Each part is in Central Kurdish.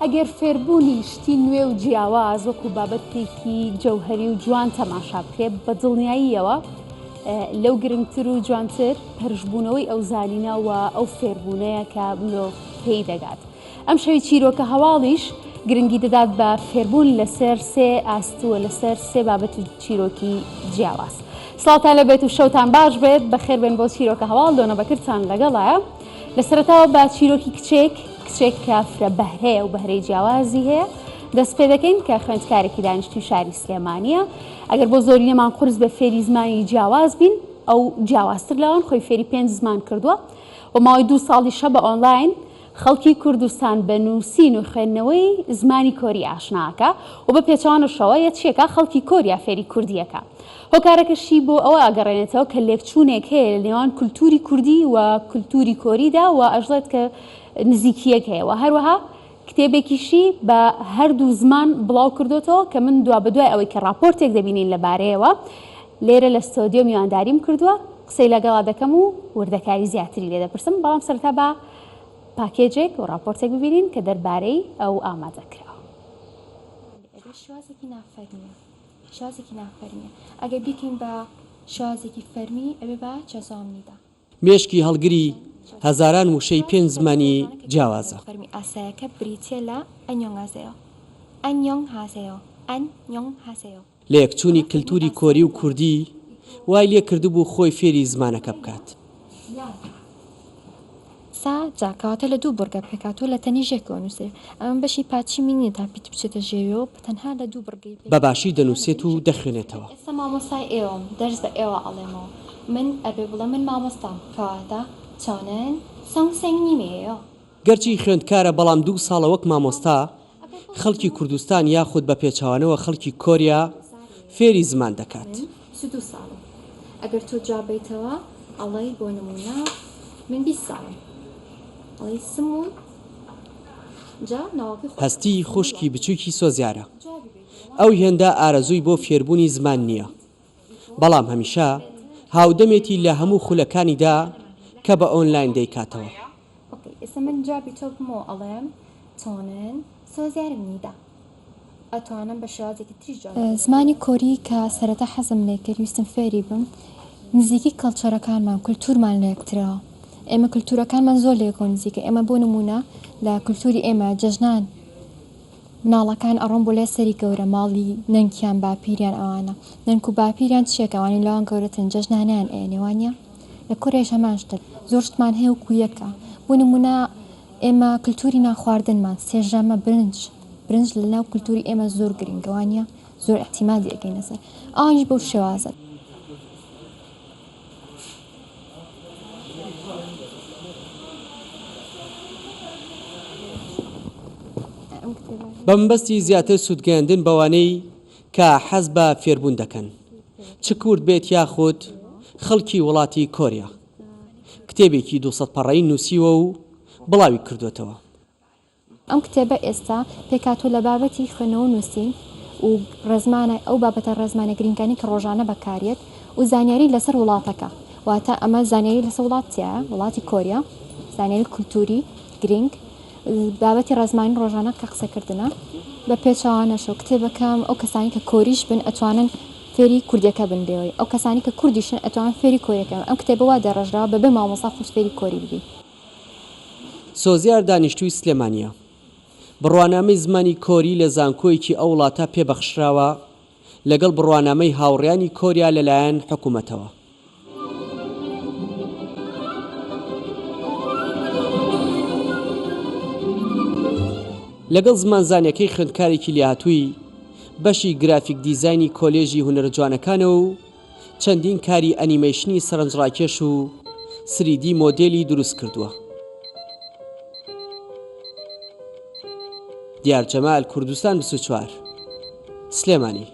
ئەگەر فێربوونی شتی نوێ و جیاواز وەکو بابەتێکی جەوهری و جوان تەماشا بکرێت بە دڵنیاییەوە لەو گرنگتر و جوانتر پرشبوونەوەی ئەو زانینە و ئەو فێربوونەیە کە مرۆڤ پێی دەگات. ئەم شەوی چیرۆکە هەواڵیش گرنگی دەدات بە فێربوون لەسەر سێ ئاست و لەسەر سێ بابەت و چیرۆکی جیاواز سڵاوتان لە بێت و شەوتان باش بێت بە خێربێن بۆ چیرۆکە هەواڵ دۆنە بەکرتان لەگەڵایە لە سەرتاوە بە چیرۆکی کچێک کچێک کە فرە بەهرەیە و بەهرەی جیاوازی هەیە دەست پێ دەکەین کە خوێندکارێکی دانیشتوی شاری سلێمانیە ئەگەر بۆ زۆری نەمان قرس بە فێری زمانی جیاواز بین ئەو جیاوازتر لەوان خۆی فێری پێنج زمان کردووە و ماوەی دوو ساڵیشە بە ئۆنلاین خەڵکی کوردستان بە نووسین و خوێندنەوەی زمانی کۆری ئاشنا ئەکا و بە پێچەوانەشەوە یە چی ئەکا خەڵکی کۆریا فێری کوردی ئەکا هۆکارەکەشی بۆ ئەوە ئەگەڕێنێتەوە کە لێکچوونێک هەیە لە نێوان کولتووری کوردی و کولتووری کۆریدا و ئەشڵێت کە نزیکییەک هەیە و هەروەها کتێبێکیشی بە هەردوو زمان بڵاو کردۆتەوە کە من دوابەدوای ئەوەی کە ڕاپۆرتێک دەبینین لە بارەیەوە لێرە لە ستۆدیۆ میوانداریم کردووە قسەی لەگەڵا دەکەم و وردەکاری زیاتری لێ دەپرسم بەڵام سەرەتا با پاکێجێک و ڕاپۆرتێک ببینین کە دەربارەی ئەو ئامادە کراوە. ماندوو ئەبێت شێوازێکی نافەرمییە شێوازێکی نافەرمییە ئەگەر بیکەین بە شێوازێکی فەرمی ئەبێ بە چەزاۆمنی دا. مێشکی هەڵگری هەزاران وشەی پێنج زمانی جیاوازە. فەرمی ئاسایەکە بریتییە لە ئەنیۆنگهاسێۆ، Annyeonghaseyo، Annyeonghaseyo. لەیەکچوونی کلتوری کۆری و کوردی وای لێ کردبوو خۆی فێری زمانەکە بکات. سا جا کەواتە لە دوو بڕگە پێکهاتووە لە تەنیش یەکەوە نووسرێ. ئەمە بەشی پاچی من نییە تا پیت بچێتە ژێویەوە بە تەنها لە دوو بڕگەی پێکهاتووە. بە باشی دەنووسێت و دەخوێنێتەوە. ئێستا مامۆستای ئێوەم دەرس بە ئێوە ئەڵێمەوە من ئەبێ بڵێم من مامۆستام کەواتە چۆنن سەنگ سەنگ نیمێیە گەرچی خوێندکارە بەڵام دوو ساڵە وەک مامۆستا خەڵکی کوردستان یاخود بە پێچەوانەوە خەڵکی کۆریا فێری زمان دەکات. من سی و دوو ساڵم ئەگەر تۆ جواب بەیتەوە ئەڵێی بۆ نمونە من بیست ساڵم ئەڵێی سموون جا ناوەکەی خۆت هەستی خوشکی بچوکی سۆزیارە ئەو هێندە ئارەزووی بۆ فێربوونی زمان نیە. بەڵام هەمیشە هاودەمێتی لە هەموو خولەکانیدا کە بە ئۆنلاین دەیکاتەوە. ئۆکەی ئێستا من جوابی تۆ بمەوە ئەڵێم تۆنن سۆزیارم نیدە ئەتوانم بە شێوازێکی تریش جواب بدەم. زمانی کۆری کە سەرەتا حەزم لێ کرد ویستم فێری بم نزیکی کەڵچەرەکانمان کولتورمان لە یەکترە ئێمە کولتورەکانمان زۆر لە یەکەوە نزیکە ئێمە بۆ نمونە لە کولتوری ئێمە جەژنان مناڵەکان ئەڕۆن بۆ لای سەری گەورە ماڵی نەنکیان باپیریان ئەوانە نەنک و باپیریان چیەکە ئەوانیش لەوان گەورەترن جەژنانیان ئەیەنێ وانیە لە کۆریایش هەمان شتە زۆر شتمان هەیە وەکو یەکە بۆ نمونە ئێمە کلتوری نان خواردنمان سێژەمە برنج برنج لە ناو کلتوری ئێمە زۆر گرینگە وانیە زۆر ئیعتیمادی ئەکەینە سەر ئەوانیش بەو شێوازەن. بەمەبەستی زیاتر سوودگەیاندن بەوانەی کە حەز بە فێربوون دەکەن چ کورد بێت یاخود خەڵکی وڵاتی کۆریا کتێبێکی دوو سەد پەڕەی نووسیوە و بڵاوی کردووەتەوە. ئەم کتێبە ئێستا پێکهاتووە لە بابەتی خوێندنەوە و نووسین و ڕێزمانە، ئەو بابەتە ڕێزمانە گرینگانەی کە ڕۆژانە بەکاریەت و زانیاری لەسەر وڵاتەکە، واتە ئەمە زانیاری لەسەر وڵات تیایە، وڵاتی کۆریا، زانیاری کولتووری گرینگ، بابەتی ڕێزمانی ڕۆژانە کە قسەکردنە، بە پێچەوانەشەوە کتێبەکە ئەو کەسانەی کە کۆریش بن ئەتوانن فێری کوردیەکە بن بێوەی ئەو کەسانەی کە کوردیشن ئەتوانن فێری کۆریەکە بن، ئەم کتێبە وا دەڕێژراوە بەبێ مامۆستا خۆت فێری کۆری ببی. سۆزیار دانیشتووی سلێمانییە، بڕوانامەی زمانی کۆری لە زانکۆیەکی ئەو وڵاتە پێ بەخشراوە لەگەڵ بڕوانامەی هاوڕێیانی کۆریا لەلایەن حکومەتەوە. لەگەڵ زمانزانەکەی خوێندکارێکی لێهاتووی بەشی گرافیک دیزاینی کۆلێژی هونەرە جوانەکانە و، چەندین کاری ئەنیمەیشنی سەرنجڕاکێش و سریدی مۆدێلی دروست کردووە. دیار جەمال کوردستان بیست و چوار سلێمانی.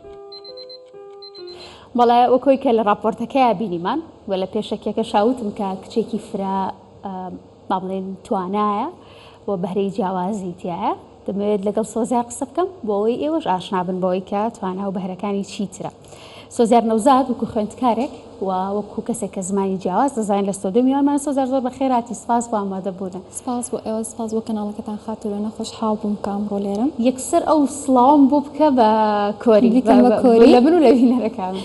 بەڵێ وەکۆی کە لە ڕاپۆرتەکەیا بینیمان و لە پێشەکیەکەشا وتم کە کچێکی فرە با بڵێین توانایە و بەهرەی جیاوازی تیایە، دەمەوێت لەگەڵ سۆزیار قسە بکەم بۆ ئەوەی ئێوەش ئاشنا بن بەوەی کە توانا و بەهرەکانی چی ترە. سۆزیار نەوزاد وەکو خوێندکارێک و وەکو کەسێک کە زمانی جیاواز دەزانێت لە ستۆدیۆ میوانمانە. سۆزیار زۆر بەخێر هاتی، سپاس بۆ ئامادەبوونت. سپاس بۆ ئێوە، سپاس بۆ کەناڵەکەتان خاتوو لۆنە، خۆشحاڵ بووم کە ئەمڕۆ لێرەم. یەکسەر ئەو سڵاوەم بۆ بکە بە کۆری، بە من و لە بینەرەکانم.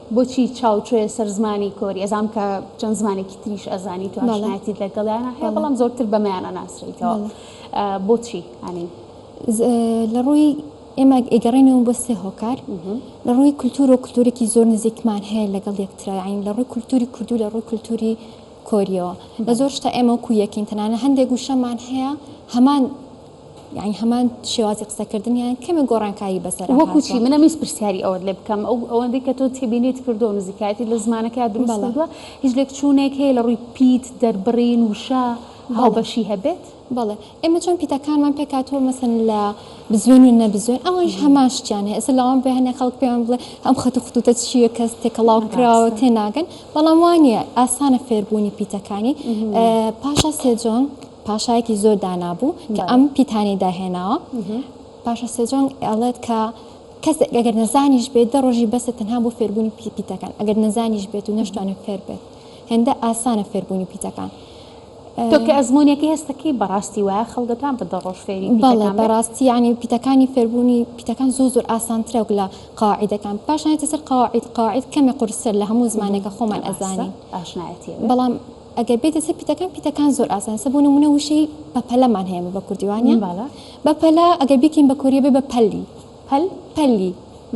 بۆچی چاو چۆیە سەر زمانی کۆری؟ ئەزانم کە چەند زمانێکی تریش ئەزانیت و ئاشنایەتیت لەگەڵیانا هەیە بەڵام زۆرتر بەمەیان ئەناسریتەوە بۆچی ئەنی؟ لە ڕووی ئێمە ئەگەڕێنەوە بۆ سێ هۆکار لە ڕووی کولتور و کولتورێکی زۆر نزیکمان هەیە لەگەڵ یەکترین لە ڕووی کولتوری کوردو لە ڕووی کولتوری کۆریەوە لە زۆر شتا ئێمە وکو یەکین تەنانە هەندێک وشەمان هەیە هەمان یانی هەمان شێوازی قسەکردن یان کەمێک گۆڕانکاری بەسەرا هاتووە؟ وەکو چی؟ من ئەمویست پرسیاری ئەوەت لێ بکەم، ئەو ئەوەندەی کە تۆ تێبینیت کردووە و نزیکایەتیت لە زمانەکەیا دروست بەڵێ. کردووە، هیچ لێکچوونێک هەیە لە ڕووی پیت، دەربڕین، وشە، بەڵێ. هاوبەشی هەبێت؟ بەڵێ. ئێمە چۆن پیتەکانمان پێک هاتووە مەسەن لە بزوێن و نەبزوێن، ئەوانیش هەمان شتیان هەیە. ئێستا لەوان بێ هەنێ خەڵک پێمان بڵێ ئەم خەت و خطوطە چییە کەس تێکەڵاو کراوە و ڕاستە. تێناگەن، بەڵام وا نییە، ئاسانە فێربوونی پیتەکانی. پاشا سێجۆنگ. پاشایەکی زۆر دانا بوو کە ئەم پیتانەی داهێناوە پاشە سێجۆنگ ئەڵێت کە کەس ئەگەر نەزانیش بێت دە ڕۆژی بەسە تەنها بۆ فێربوونی پی پیتەکان ئەگەر نەزانیش بێت و نەشتوانێت فێر بێت هێندە ئاسانە فێربوونی پیتەکان. تۆکە ئەزمونونیەکە هێستەکەی بەڕاستی وایە خەڵگەتان بە دە ڕۆژ فێری بەڵێ بەڕاستی ینی پیتەکانی فێربوونی پیتەکان زۆ زۆر ئاسانترە و لە قاعدەکان پاشایەتی سەر قاعد قاعد کەمێ قورسەر لە هەموو زمانێکە خۆمان ئەزانین بەڵام ئەگەر بێیتە سەر پیتەکان پیتەکان زۆر ئاسانە سە بۆ نمونە وشەی بەپەلەمان هەیە بە کوردی وانە بالا بەپەلە ئەگەر بیکەین بە کۆریە بێ بە پەلی پەل پەلی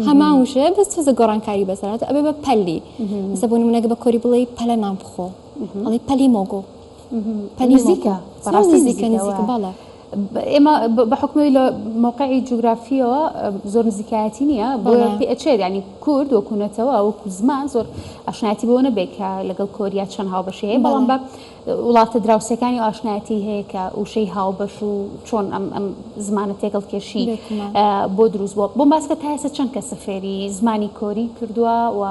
هەمان وشەیە بەس تۆزە گۆڕانکاری بەسەرات ئەبێ بە پەلی سە بۆ نمونەگە بە کۆری بڵێ پەلە نان بخۆ ئەڵی پەلی مۆگۆ پەلی نزیکە نزیکە نزیکە باڵە ئێمە بە حوکمەوەی لە مەوقعی جوگرافیەوە زۆر نزیکایەتی نییە بۆیە پێ ئەچێت ینی کورد وەکو نەتەوە وەکو زمان زۆر ئاشنایەتی بۆ نەبێت کە لەگەڵ کۆریا چەند هاوبەشی هەیە بەڵام بە وڵاتە دراوسەکانی و ئاشنایەتی هەیە کە وشەی هاوبەش و چۆن ئەم ئەم زمانە تێکەڵ کێشی بۆ دروست بووە بۆم باسکە تا ئێستا چەند کەسە فێری زمانی کۆری کردووە و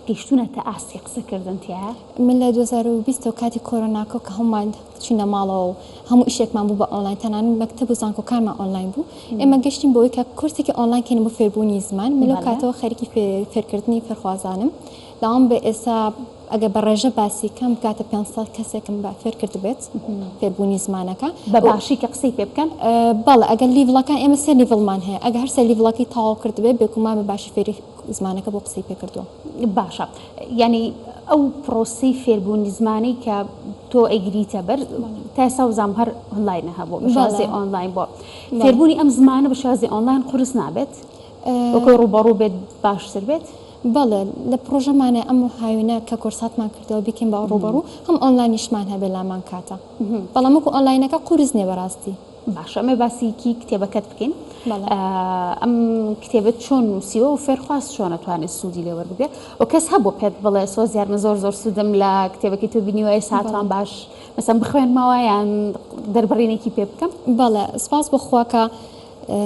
گەیشتونەتە ئاستی قسەکردن تیا من لە 2020 کاتی کۆرۆناکە کە هەمووان چوینە ماڵەوە و هەموو ئیشێکمان بوو بە ئۆنلاین تەنانەت مەکتەب و زانکۆکانمان ئۆنلاین بوو ئێمە گەشتین بۆی کە کورسێکی ئۆنلاین کەین بۆ فێربوونی زمان من لەو کاتەوە خەریکی فێرکردنی فێرخوازانم داوام بە ئێستا ئەگە بە ڕێژە باسی کەم بکاتە 500 کەسێکم بە فێر کرد بێت فێربوونی زمانەکە بە باشی کە قسەی پێ بکەن بەڵ ئەگەر لیڤڵەکان ئێمە سێ لیڤڵمان هەیە ئەگە هەر سێ لیڤڵەکەی تاوا کرد بێت بێکومان بە باشی فێری زمانەکە بۆ قسەی پێ کردووە باشە یانی ئەو پڕۆسەی فێربوونی زمانەی کە تۆ ئەیگریتە بەر تا ئێستا وزام هەر ئۆنلاینە هەبوو بە شێوازی بەڵێ ئۆنلاین بۆ بەڵێ فێربوونی ئەم زمانە بە شێوازی ئۆنلاین قورس نابێت؟ وەکۆی ئه ڕووبەڕوو بێت باشتر بێت؟ بەڵێ لە پڕۆژەمانە ئەم هاوینە کە کۆرساتمان کردووە بیکەین بە ڕووبەڕوو هەم ئۆنلاینیشمان هەبێت لامان کاتە بەڵام وەکو ئۆنلاینەکە قورس نییە بەڕاستی. باشە ئەمێ باسی کی کتێبەکەت بکەین ئەم کتێبت چۆن نووسیوە و فێرخواست چۆنە توانێت سوودی لێ وەربگرێت و کەس هەبوو پێت بڵێ سۆز یارمە زۆر زۆر سوودم لە کتێبەکەی تۆ بینیوای ساتوان باش مەسم بخوێنمەوە یان دەربڕینێکی پێ بکەم بەڵێ سپاس بخواکە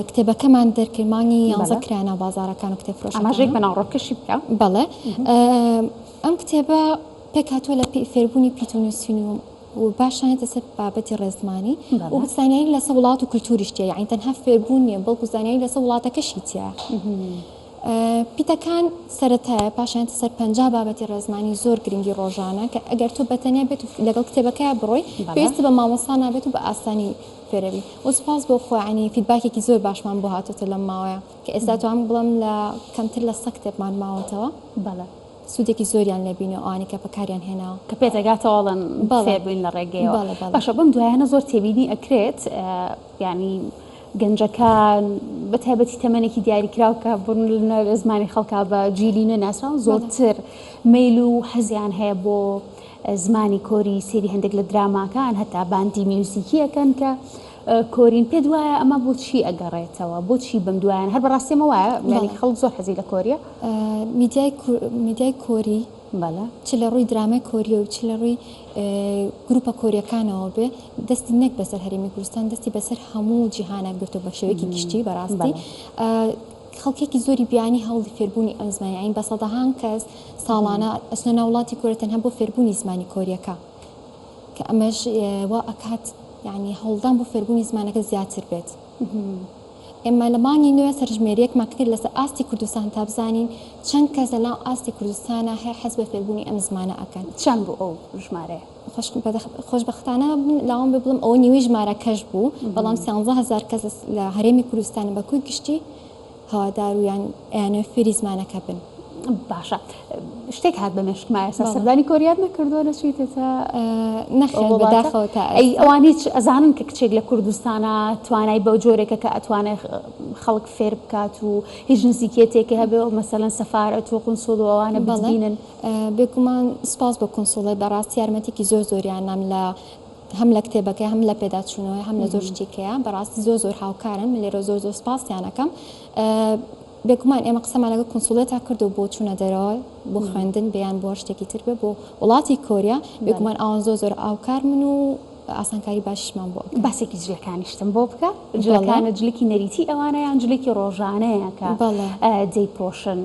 کتێبەکەمان دەرکرد مانگی یانزە کرانە بازارەکان و کتێب فرۆش ئەماژێک بە ناوڕۆکەشی بکە بەڵێ ئەم کتێبە پێکاتوە لە فێربوونی پیت و نووسین و و پاشان یەتە سەر بابەتی ڕێزمانی و زانیاری لەسە وڵات و کللتوریش تیە یعنی تەنها فێربوون نیە بەڵکو زانیاری لەسە وڵاتەکەشی تیە پیتەکان سەتایە پاشان سەر پنج بابەتی ڕێزمانی زۆر گرنگی ڕۆژانە کە ئەگەر تۆ بەتەنیا بێت و لەگەڵ کتێبەکە بڕۆی پێست بە مامۆسا نابێت و بە ئاسانی فێرەوی وسپاس بۆ خۆیانی فیدباکێکی زۆر باشمان بۆ هاتۆتە لەم ماوەیە کە ئێستا توان بڵم لە کەمتر لە سە کتێبمان ماوەتەوە بەڵە سودێکی زۆریان لێ بینیەوە ئەوانەی کە بەکاریان هێناوە. کە پێتدەگاتەوە ئەڵێن بەڵێ فێربووین لە ڕێگەیەوە بەڵێ بەڵێ. باشە بەم دوایانە زۆر تێبینی ئەکرێت یانی گەنجەکان بە تایبەتی تەمەنێکی دیاریکراو کە بڕن لە لە زمانی خەڵکا بە جیلی نوێ ناسراون بەڵێ زۆرتر مەیل و حەزیان هەیە بۆ زمانی کۆری سەیری هەندێک لە دراماکان هەتا باندی میوزیکیەکەن کە کۆرین پێت وایە ئەمە بۆ چی ئەگەڕێتەوە بۆ چی بەم دوایان هەر بەڕاستی ئەمە وایە یانی خەڵک زۆر حەزی لە کۆریە میدیای کۆری بەڵە چ لە ڕووی درامای کۆریە و چ لە ڕووی گروپە کۆریەکانەوە بێ دەستی نەک بەسەر هەرمی کوردستان دەستی بەسەر هەموو جیهانە گرتو بە شێوەیەکی گشتی بەڕاستی خەڵکێکی زۆری بیانی هەوڵی فێربوونی ئەم زمانی ئاین بە سەدەهان کەس ساڵانە ئەسنە ناوڵاتی کورە تەنها بۆ فێربوونی زمانی کۆریەکە کە ئەمەش وا ئەکات یانی هەوڵدان بۆ فێربوونی زمانەکە زیاتر بێت. ئێمە لە مانگی نوێ سەرژمێریەکمان کرد لەسەر ئاستی کوردستان تا بزانین چەند کەس لە ناو ئاستی کوردستانە هەیە حەز بە فێربوونی ئەم زمانە ئەکەن. چەند بوو ئەو ژمارەیە؟ خۆشبەختانە من لاوام بێ بڵم ئەوە نیوەی ژمارەکەش بوو، بەڵام سیانزە هەزار کەس لە هەرێمی کوردستانە بە کۆی گشتی، هەوادار و یان ئەیانەوێت فێری زمانەکە بن. باشە شتێک هات بە مێشکما ئێستا بەڵێ. سەردانی کۆریات نەکردووە نەچوویتێتە ئەو نەخێر وڵاتە؟ بەداخەوە تا ئەی ئێستا. ئەوان هیچ ئەزانن کە کچێک لە کوردستانا توانای بەو جۆرێکە کە ئەتوانێ خەڵک فێر بکات و هیچ نزیکیەتێکی هەبێ و مەسەلەن سەفارەت و قونسوڵ و ئەوانە بەڵێ بتبینن؟ بێگومان سوپاس بۆ کونسوڵی بەڕاستی یارمەتیەکی زۆر زۆریان نام لە هەم لە کتێبەکەی هەم لە پێداچوونەوەی هەم لە زۆر شتێکەیە بەڕاستی زۆر زۆر هاوکارن من لێرە زۆر زۆر سپاسیانەکەم بێگومان ئێمە قسەمان لەگە کنسوڵێتا کرد و بۆ چوونە دەرەوە بۆ خوێندن بیان بۆ شتێکی تر بێ بۆ وڵاتی کۆریا بێگومان ئاوان زۆ زۆر ئاوکار من و ئاسانکاری باشمان بۆ باسێکی جلەکانیشتم بۆ بکە جلەکانە جلکی نەریتی ئەوانە یان جلکی ڕۆژانەیەکە جێی پۆشن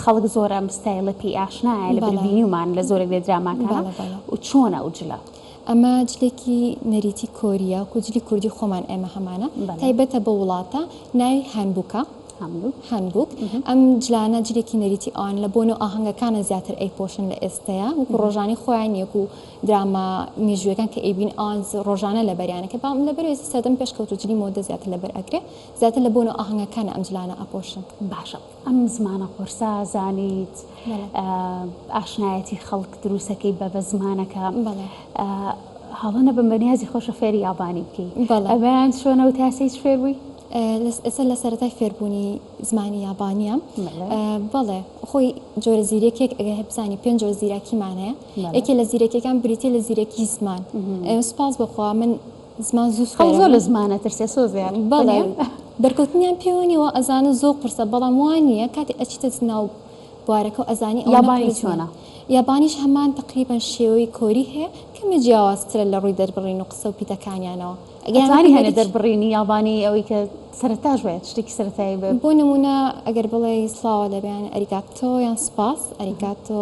خەڵک زۆرە مستایلە پێی ئاشنایە لە بینیمان لە زۆرە بێ دراماکانە و چۆنە و جلە. ئەمە جلێکی نەریتی کۆریە وەکو جلی کوردی خۆمان ئێمە هەمانە تایبەتە بەو وڵاتە ناوی هانبوکە هانبوک ئەم جلانە جلێکی نەریتی ئەوان لە بۆنە و ئاهەنگەکانە زیاتر ئەی پۆشن لە ئێستەیە وەکو ڕۆژانی خۆیان نیەک و دراما مێژوەکان کە ئەیبین ئەوان ڕۆژانە لە بەریانەکە بام لە بەرێ سەدەم پێشکەوت و جلی مۆدە زیاتر لە بەر ئەکرێ زیاتر لە بۆنە و ئاهەنگەکانە ئەم جلانە ئەپۆشن باشە ئەم زمانە قورسە زانیت ئاشنایەتی خەڵک دروسەکەی بە بە زمانەکە هەڵە نەبم بە نیازی خۆشە فێری یابانی بکەی ئەبیان شوێنە و تاسەی فێر بووی ئێستا لە سەرەتای فێربوونی زمانی یابانیە بەڵێ خۆی جۆرە زیرەکێک ئەگە هەبزانانی پێنج جۆر زیراکیمانەیە یەکێ لە زیرەکەکان بریتە لە زیرەکی زمان سپاس بخوا من زمان زوو سوێرە بوو. ئەو زۆر لە زمان ئەترسێ سۆزیان. بەڵێ بەرکەوتنیان پێوە نیە وا ئەزانن زۆر قورسە بەڵام وا نییە کاتێ ئەچیتە ناو بوارەکە و ئەزانی ئەوە یابانی چۆنە یابانیش هەمان تقریبەن شێوەی کۆری هەیە کەمێ جیاوازترە لە ڕووی دەربڕین و قسە و پیتەکانیانەوە ئەتوانی هەنێ دەربڕینی یابانی ئەوەی کە سەرتاش بێت شتێکی سەرتایی بێت بۆ نمونە ئەگەر بڵێ سڵاوە دەبیان ئەریگاتۆ یان سوپاس ئەریگاتۆ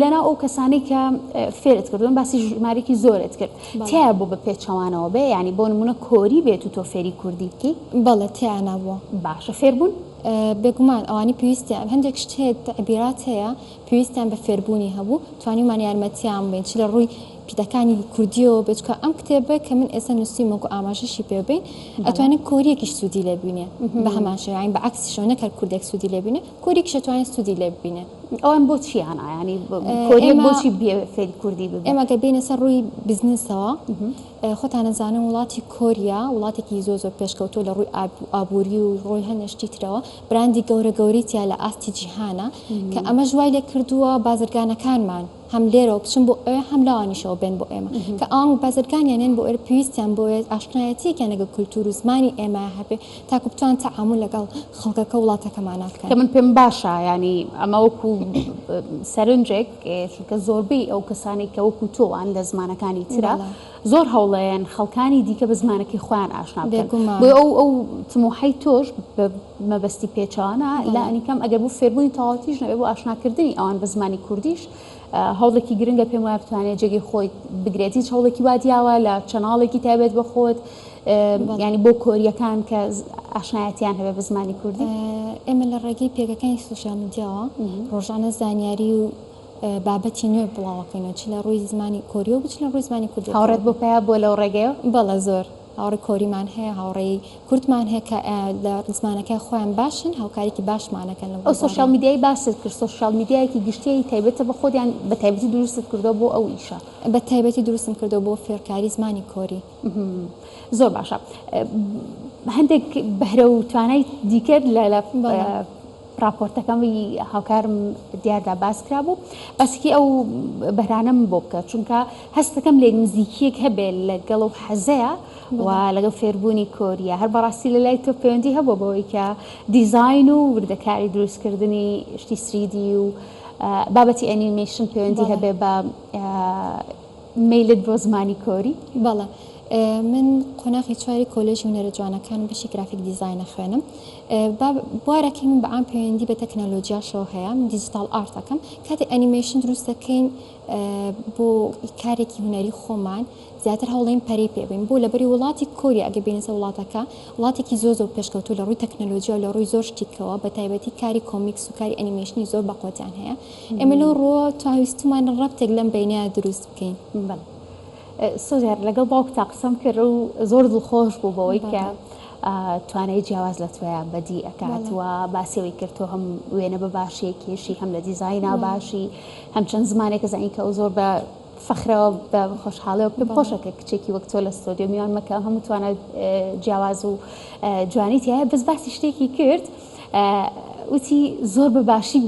لەناو ئەو کەسانەی کە فێرت کردوون باسی ژمارێکی زۆرت کرد تیا بوو بە پێچەوانەوە بێ ینی بۆ نمونە کۆری بێت و تۆ فێری کوردی بکەی بەڵێ تیانا بووە باشە فێربوون بێگومان ئەوانی پێویستیان هەندێک شت هەیە تەعبیرات هەیە پێویستیان بە فێربوونی هەبوو توانیمان یارمەتیان بین چ لە ڕووی پیتەکانی کوردیەوە بچکە ئەم کتێبە کە من ئێستا نووسیم وەکو ئاماژەشی پێ بین ئەتوانین کۆریەکیش سوودی لێبینێ بە هەمان شێوەین بە عکسیشەوە نەکەر کوردێک سوودی لێبینێ کۆری کشە توانێت سودی لێ ببینێت. ئەوان بۆ چیان ئایانی کۆریەک بۆچی بێ فێری کوردی ببێت؟ ئێمە گە بینە سەر ڕووی بزنسەوە خۆتانە زانن وڵاتی کۆریا وڵاتێکی زۆ زۆر پێشکەوتو لە ڕووی ئابووری و ڕۆی هەنێشتی ترەوە براندی گەورە گەوریتیا لە ئاستی جیهانە کە ئەمە ژوای لێ کردووە بازرگانەکانمان هەم لێرەوە بچن بۆ ئەوێ هەم لەوانیشەوە بێن بۆ ئێمە کە ئەوان بازرگانیان یان بۆ ئێرە پێویستیان بۆیە ئاشنایەتیەکیان لەگەڵ کولتوور و زمانی ئێمە هەبێ تاکو بتوان تەعامول لەگەڵ خەڵکەکە و وڵاتەکەمانە بکەن. کە من پێم باشە یانی ئەمە وەکو سەرنجێک چونکە زۆربەی ئەو کەسانەی کە وەکو تۆوان لە زمانەکانی ترا زۆر هەوڵەیەن خەڵکانی دیکە بە زمانەکەی خۆیان ئاشنا بکەن بۆیە ئەو ئەو تموحەی تۆش مەبەستی پێچەوانە لانیکەم ئەگەر بۆ فێربوونی تەواوەتیش نەبێت، بۆ ئاشناکردنی ئەوان بە زمانی کوردیش هەوڵێکی گرنگە، پێم وایە بتوانێت جێگەی خۆی بگرێت، هیچ هەوڵێکی وا دیاوە لە چەناڵێکی تایبەت بە خۆت یانی بۆ کۆریەکان کە ئاشنایەتیان هەبێت بە زمانی کوردی؟ ئێمە لە ڕێگەی پێگەکانی سوسیال میدیاوە ڕۆژانە زانیاری و بابەتی نوێ بڵاوەکەینەوە چ لە ڕووی زمانی کۆریەوە بچ لە ڕووی زمانی کوردی. هاوڕێت بۆ پیا بووە لەو ڕێگەیەوە؟ بەڵێ زۆر. هاوڕێ کۆریمان هەیە هاوڕێی کوردمان هەیە کە لە زمانەکەی خۆیان باشن هاوکاریکی باشمانەکەن لە ئەو سۆشیال میدیای باست کرد سۆشیال میدیایەکی گشتیی تایبەتە بە خۆدیان بە تایبەتی دروستت کردەوە بۆ ئەو ئیشە بە تایبەتی دروستم کردەوە بۆ فێرکاری زمانی کۆری زۆر باشە هەندێک بەهرە و توانای دیکەت لە ڕاپۆرتەکەی هاوکارم دیاردا باس کرابوو باسێکی ئەو بەرانەم بۆ بکە چونکە هەستەکەم لێک نزیکیەک هەبێ لەگەڵ و حەزەیە و لەگەڵ فێربوونی کۆریە هەر بەڕاستی لە لای تۆ پەیوەندی هەبووە بەوەی کە دیزین و وردەکاری دروستکردنی شتی سریدی و بابەتی ئەنیمەیشن پەیوەندی هەبێ بە مەیلت بۆ زمانی کۆری؟ بەڵێ من قۆناغی چواری کۆلێژی هونەرە جوانەکانم بەشی گرافیک دیزاین ئەخوێنم با بوارەکەی من بەعام پەیوەندی بە تەکنەلۆجیاشەوە هەیە من دیجیتاڵ ئارت ئەکەم کاتێ ئەنیمەیشن دروست دەکەین بۆ کارێکی هونەری خۆمان زیاتر هەوڵین پەرەی پێ بین بۆ لە بەری وڵاتی کۆریا ئەگە بینەسە وڵاتەکە وڵاتێکی زۆر زۆر پێشکەوتوو لە ڕووی تەکنەلۆجیا و لە ڕووی زۆر شتیکەوە بە تایبەتی کاری کۆمیکس و کاری ئەنیمەیشنی زۆر بەقوەتیان هەیە ئێمە لەو ڕووە توانویستمان ڕەبتێک لەم بەینەیە دروست بکەین. سۆزیار لەگەڵ باوکتا قسەم کرد و زۆر دڵخۆش بوو بەوەی کە توانای جیاواز لە تۆیا بەدی ئەکات و باسیەوەی کرد تۆ هەم وێنە بە باشی کێشی هەم لە دیزاینا باشی هەم چەند زمانێکە زانین کە ئەو زۆر بە فەخرەوە بە خۆشحاڵەوە پێم خۆشە کە کچێکی وەک تۆ لە ستۆدیۆ میوان مەکە هەموو توانە جیاواز و جوانی تایە بەس باسی شتێکی کرد وتی، زۆر بە باشی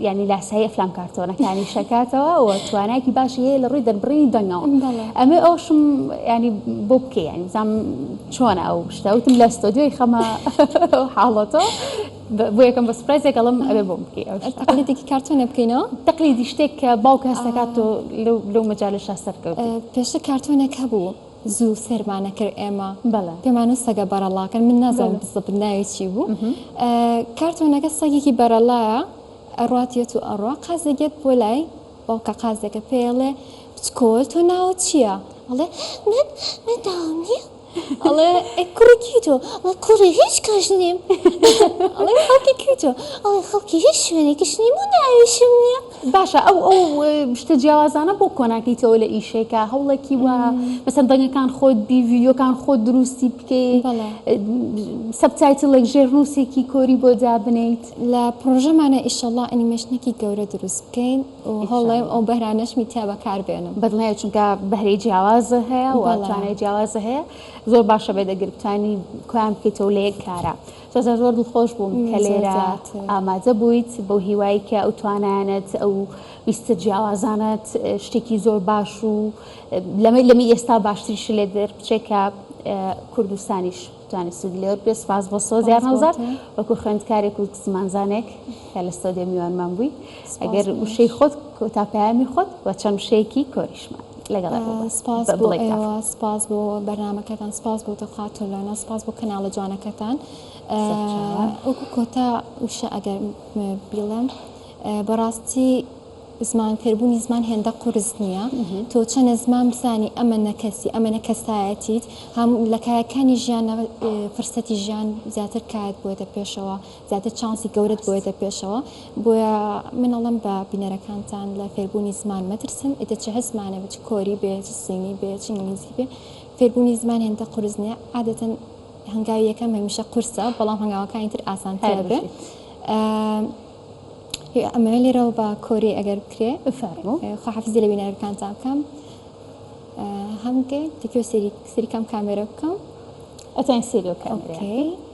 یانی لاسایی ئەفلام کارتۆنەکانی شەکاتەوە و توانایکی باشی هەیە لە ڕووی دەربڕینی دەنگەوە ئەمێ ئەوشم ینی بۆ بکەی ینی بزانام چۆنە ئەو شتەوتم لە ستۆدیۆی خەمە حاڵەتەوە بۆ یەکەم بە سپرایزێک ئەڵم ئەبێ بۆ بکەی تەقلیدێکی کارتۆنە بکەینەوە تەقلیدی شتێک کە باوکە هەستەکات تۆ لەو مەجالە شاسەرکەوت پێشتە کارتۆنێک هەبوو. زوو سەیرمان ئەکرد ئێمە بەڵێ پێمانوت سەگە بەڕەڵاکەن من نازانم بەڵێ بزەبت ناوی چی بوو ئەها ئە کارتۆنەکە سەگێکی بەرەڵایە ئەڕات یەت و ئەڕوا قازێک یەت بۆ لای باوکە قازێکە پێیەڵێ بچکۆل تۆ ناوت چیە ئەڵێ من من ناوم نیە ئەڵێ ئەی کوڕی کی تۆ ئەڵێ کوڕی هیچ کەش نیم ئەڵێ خەڵکی کی تۆ ئەڵێ خەڵکی هیچ شوێنێکیش نیم و ناویشم نیە باشە ئەو ئەو شتە جیاوازانە بۆ کۆناکەیتەوە لە ئیشێکە هەوڵێکی وە مەسەن دەنگەکان خۆت بی ویدیۆکان خۆت دروستی بکەی سەبتایتڵێک ژێر نووسێکی کۆری بۆ دابنیت لە پرۆژەمانە ئیشەڵا ئەنیمێشنێکی گەورە دروست بکەین و هەڵڵێم ئەو بەرانەشمی تیا بەکار بێنم بەدڵنیای چونکە بەهرەی جیاوازە هەیە وڵاتوانای جیاوازە هەیە زۆر باشە بێ دەگربتانی کۆیان بکەیتەوە لە یەک کارە. سۆزان زۆر دڵخۆش بووم کە لێرە ئامادە بوویت بەو هیوای کە ئەو توانایانەت ئەو ویستە جیاوازانەت شتێکی زۆر باش و لەمەی لەمی ئێستا باشتریش لێ دەربچێ کە کوردستانیش توانێت سوودی لێوەر بێ سپاس بۆ سۆزیان هەڵزار وەکو خوێندکارێک و زمانزانێک کە لە سۆدێ میوانمان بووی ئەگەر وشەی خۆت کۆتا پەیامی خۆت و چەند وشەیەکی کۆریشمان لەگەڵ سپاس بۆ ئێوە سپاس بۆ بەرنمەکەتان سپاس بۆ تۆ خاتون لۆنا سپاس بۆ کەناڵە جوانەکەتان ئەوکو کۆتا وشە ئەگەر بیڵم بەڕاستی زمان فێربوونی زمان هێندە قرس نییە تۆ چەنە زمان بزانی ئەمە نەکەسی ئەمە نە کەسایەتیت هەم لە کایەکانی ژیان فرسەتی ژیان زیاتر کات بۆتە پێشەوە زیاتر چانسی گەورەت بۆیەتە پێشەوە بۆیە من ئەڵم بە بینەرەکانتان لە فێربوونی زمان مەترسن ئیتە چه هەزمانە بچ کۆری بێ چ سینی بێ چ ئینگلیزی بێ فێربوونی زمان هێندە قرس نیە عادەتەن هەنگاوی یەکەم هەمیشە قورسە بەڵام هەنگاوەکانی تر ئاسانتر بێ ئەمە لێرەوە بە کۆری ئەگەر بکرێ خواحافزی لە بینەرەکانتان بکەم هەمگەی تکێ سەری سەریکەم کامێرە بکەم ئەتەن سریۆکە.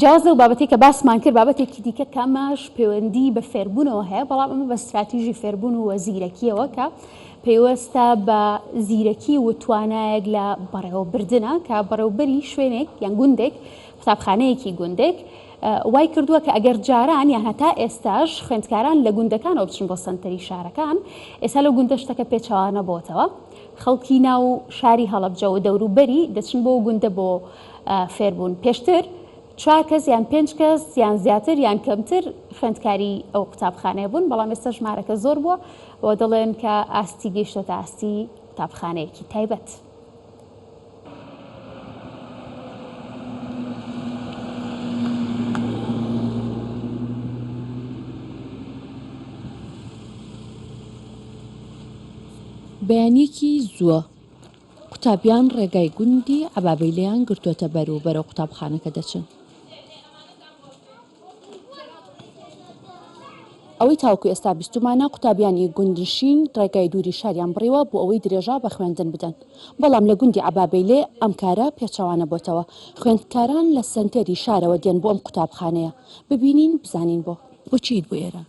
جیاواز لەو بابەتەی کە باسمان کرد، بابەتێکی دیکە کە ئەمەش پەیوەندی بە فێربوونەوە هەیە، بەڵام ئەمە بە ستراتیژی فێربوون و زیرەکییەوە کە پەیوەستە بە زیرەکی و توانایەک لە بەڕێوەبردنە کە بەڕێوبەری شوێنێک یان گوندێک قوتابخانەیەکی گوندێک وای کردووە کە ئەگەر جاران یان هەتا ئێستاش خوێندکاران لە گوندەکانەوە بچن بۆ سنتەری شارەکان ئێستا لە گوندە شتەکە پێچوانە بۆتەوە خەڵکی ناو شاری هەڵبجە و دەوروبەری دەچن بۆ گوندە بۆ فێر بوون. پێشتر چوار کەس یان پێنج کەس یان زیاتر یان کەمتر خوێندکاری ئەو قوتابخانەیە بوون، بەڵام ئێستا ژمارەکە زۆر بووە و دەڵێن کە ئاستی گەیشتۆتە ئاستی قوتابخانەیەکی تایبەت. بەیانیەکی زووە. قوتابیان ڕێگای گوندی عەبابەیلەیان گرتووەتە بەر و بەرەو قوتابخانەکە دەچن. ئەوەی تاوەکو ئێستا بیستومانە، قوتابیان ی گوندنشین ڕێگای دووری شاریان بڕیوە بۆ ئەوەی درێژە بە خوێندن بدەن، بەڵام لە گوندی عەبابەیلێ ئەم کارە پێچەوانە بۆتەوە، خوێندکاران لە سەنتەری شارەوە دێن بۆ ئەم قوتابخانەیە، ببینین بزانین بۆ؟ بۆچی یت بۆ ئێرە؟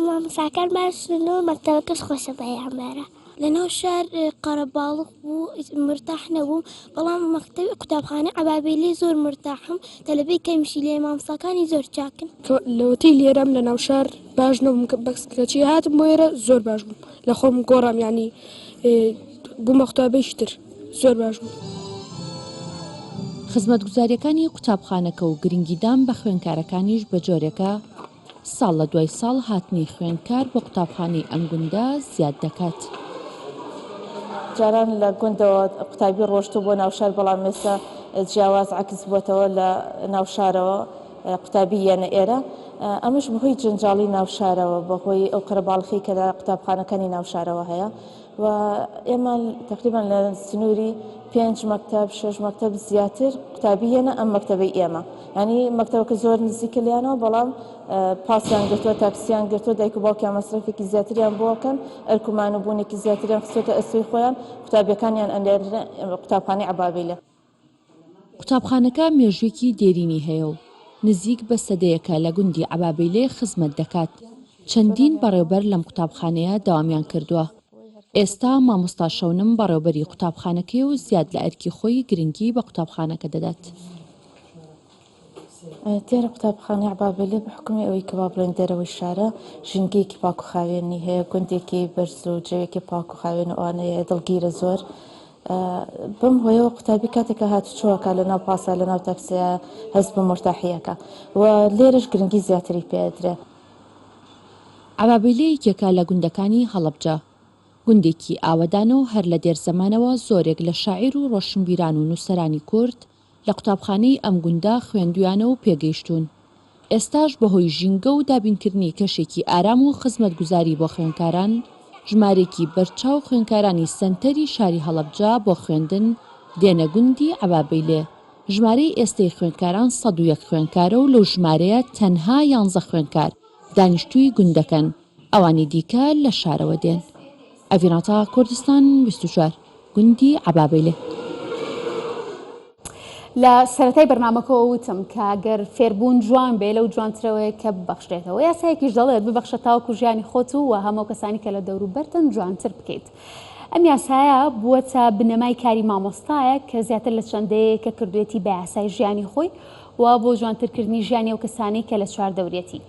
مامۆساکان باشن و مەکتەبەکەش خۆشە بە یامارا. لە ناو شار قەرەباڵغ بوو مرتاح نەبووم بەڵام مەکتەبی قوتابخانەی عەبابیلی زۆر مرتاحم تەلەبەی کەمیشی لێیە مامۆساکانی زۆر چاکن. لەوەتەی لێرەم لە ناو شار باش نەبووم بەس کەچی هاتم بۆ ئێرە زۆر باش بووم لە خۆم گۆڕام یانی بوومە قوتابیەکی تر زۆر باش بووم. خزمەتگوزاریەکانی قوتابخانەکە و گرنگیدان بە خوێنکارەکانیش بە جۆرێکە، ساڵ لە دوای ساڵ هاتنی خوێندکار بۆ قوتابخانەی ئەم گوندە زیاد دەکات. جاران لە گوندەوە قوتابی ڕۆشتووە بۆ ناوشار، بەڵام ئێستا جیاواز عەکس بووەتەوە لە ناوشارەوە قوتابی یەنە ئێرە، ئەمەش بەهۆی جەنجاڵی ناوشارەوە بەهۆی ئەو قەرەباڵخی کە لە قوتابخانەکانی ناوشارەوە هەیە. و ئێمە تەقریبەن لە سنووری پێنج مەکتەب شەش مەکتەب زیاتر قوتابی هێنا ئەم مەکتەبەی ئێمە ینی مەکتەبەکە زۆر نزیکە لیانەوە بەڵام پاسیان گرتووە تاکسیان گرتووە دایک و باوکیان مەسرفێکی زیاتریان بۆکەن ئەرکمان و بوونێکی زیاتریان خسێتە ئەسوی خۆیان قوتابیەکانیان ئەلێ قوتابخانی عبابیلە قوتابخانەکە مێژوویەکی دێرینی هەیە و نزیک بە سەدەیەکە لە گوندی عەبابەیلێ خزمەت دەکات. چەندین بەڕێوبەر لەم قوتابخانەیە دەوامیان کردووە. ئێستا مامۆستا شەونم بەڕێوبەری قوتابخانەکەیە و زیاد لە ئەرکی خۆی گرنگی بە قوتابخانەکە دەدات. دیارە قوتابخانەی عەبابەیلێ بە حوکمی ئەوەی کە با بڵێین دەرەوەی شارە، ژینگەیەکی پاک و خاوێنی هەیە، گوندێکی بەرز و جەوێکی پاک و خاوێن و ئەوانەی هەیە دڵگیرە زۆر. بەم هۆیەوە قوتابی کاتێک کە هاتوچۆ ئەکا لە ناو پاسا لە ناو تاکسیا هەست بە مورتاحی ئەکا و لێرەش گرنگی زیاتری پێ ئەدرێ. عەبابەیلێ یەکێکە لە گوندەکانی هەڵەبجە. گوندێکی ئاوەدانە و هەر لە دێر زەمانەوە زۆرێک لە شاعیر و ڕۆشنبیران و نووسەرانی کورد لە قوتابخانەی ئەم گوندە خوێندویانە و پێگەیشتوون. ئێستاش بەهۆی ژینگە و دابینکردنی کەشێکی ئارام و خزمەتگوزاری بۆ خوێندکاران، ژمارەیەکی بەرچاو خوێندکارانی سەنتەری شاری هەڵەبجە بۆ خوێندن دێنە گوندی عەبابەیلێ. ژمارەی ئێستەی خوێندکاران سەد و یەک خوێندکارە و لەو ژمارەیە تەنها یانزە خوێندکار دانیشتووی گوندەکەن. ئەوانی دیکە لە شارەوە دێن. ئەڤیناتا کوردستان بیست و چوار، گوندی عەبابەیلێ. لە سەرەتای بەرنامەکەوە وتم کە گەر فێربوون جوان بێ لەو جوانترەوەیە کە ببەخشرێتەوە یاسایەکیش دەڵێت ببەخشە تاوەکو ژیانی خۆت و و هەموو کەسانی کە لە دەوروبەرتن جوانتر بکەیت ئەم یاسایە بووەتە بنەمای کاری مامۆستایە کە زیاتر لە چەند دەیەیە کە کردوێتی بە یاسای ژیانی خۆی و بۆ جوانترکردنی ژیانی ئەو کەسانەی کە لە چواردەوریەتی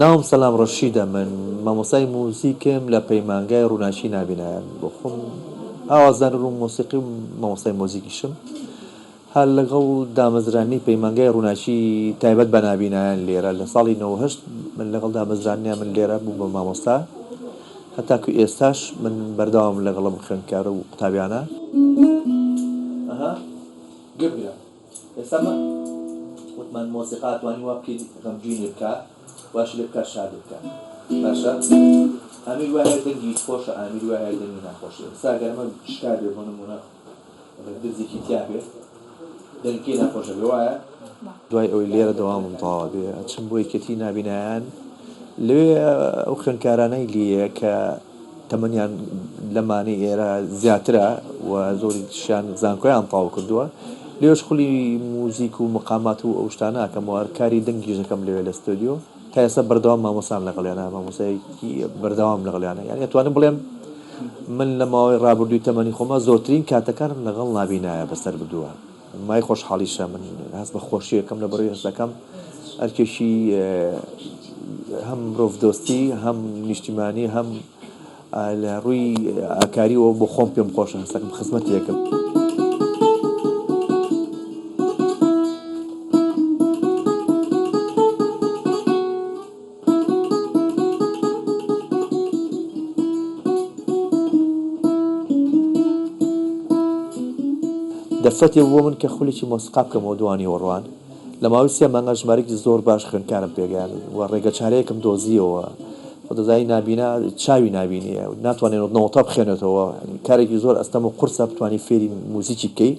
ناوم سەلام ڕەشیدە من مامۆستای موزیکم لە پەیمانگای ڕوناکی نابینایە بۆخۆم ئاوازدانەر و مۆسیقی و مامۆستای مۆزیکیشم هەر لەگەڵ دامەزرانی پەیمانگای ڕوناکی تایبەت بە نابینایان لێرە لە ساڵی نەوەد و هەشت من لەگەڵ دامەزرانیا من لێرە بووم بە مامۆستا هەتاکو ئێستاش من بەردەوامم لەگەڵ ئەم خوێندکارە و قوتابیانە. ئێستا من وتمان مۆسیقا توانی وا بکەی غەمگینێ بکا واشی لێ بکا شادێ بکا باشە ئامیر وای هەیە دەنگی هیچ خۆشە ئامیر وای هەیە دەنگی ناخۆشە ئێستا گەر ئەمە شکا بێ بۆ نموونە گەر درزێکی تیا بێ دەنگەکەی ناخۆش ئەبێ وایە؟ دوای ئەوەی لێرە دەوامم تەواو ئەبێ ئەچم بۆ یەکێتی نابینایان لەوێ ئەو خوێندکارانەی لیە کە تەمەنیان لەمانەی ئێرە زیاترە و زۆریشیان زانکۆیان تەواو کردووە، لێرەش خولی موزیک و مقامات و ئەو شتانە ئەکەم و کاری دەنگیش دەکەم لەوێ لە ستۆدیۆ، تا ئێستا بەردەوام مامۆستام لەگەڵیانا، مامۆستایەکی بەردەوامم لەگەڵیانە، یانی ئەتوانم بڵێم من لە ماوەی ڕابردووی تەمەنی خۆما زۆرترین کاتەکانم لەگەڵ نابینایە بەسەر بردووە. مای خۆشحاڵیشە من هەست بە خۆشی ئەکەم لە بەڕێی هەستەکەم ئەرکێکی هەم مرۆڤ دۆستی هەم نیشتیمانی هەم لە ڕووی ئاکاریەوە بۆ خۆم پێم خۆشە هەستەکەم خزمەتێکم. دەرفەتێ بوو بۆ من کە خولێکی مۆسیقا بکەمەوە دووا نیوەڕوان. لە ماوەی سێ مانگا ژمارەیەکی زۆر باش خوێندکارم پێگەیاند و ڕێگەچارەیەکم دۆزییەوە. خودازای نابینا چاوی نابینییە، ناتوانێت نۆتە بخوێنێتەوە، کارێکی زۆر ئەستەم و قورسە بتوانیت فێری موزیکی بکەیت.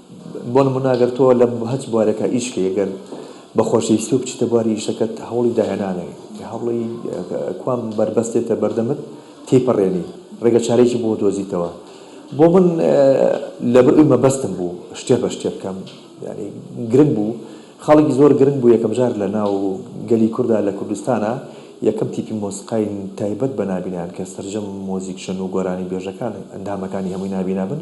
بۆ نموونە گەر تۆ لە هەچ بوارێکا ئیش بکەی گەر بە خۆشەویستیەوە بچیتە بواری ئیشەکەت هەوڵی داهێنانەوەی هەوڵی کوان بەربەستێتە بەردەمت تێیپەڕێنی ڕێگە چارەیەکی بۆ دۆزیتەوە بۆ من لەبەر ئەوی مەبەستم بوو شتێ بە شتێ بکەم یعنی گرنگ بوو خەڵکی زۆر گرنگ بوو یەکەم جار لە ناو گەلی کووردا لە کوردستانە یەکەم تیپی مۆسیقای تایبەت بە نابینایان کە سەرجەم مۆزیکشەن و گۆرانی بێژەکان ئەندامەکانی هەمووی نابینا بن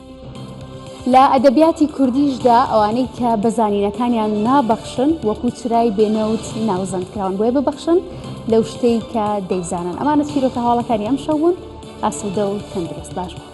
لە ئەدەبیاتی کوردیشدا ئەوانەی کە بە زانینەکانیان نابەخشن وەکو چرای بێنەوت ناوزەند کراون بۆیە ببەخشن لەو شتەی کە دەیزانن ئەمانە چیرۆکە هەواڵەکانی ئەم شەو بوون ئاسوودە و تەندروست باش بوون.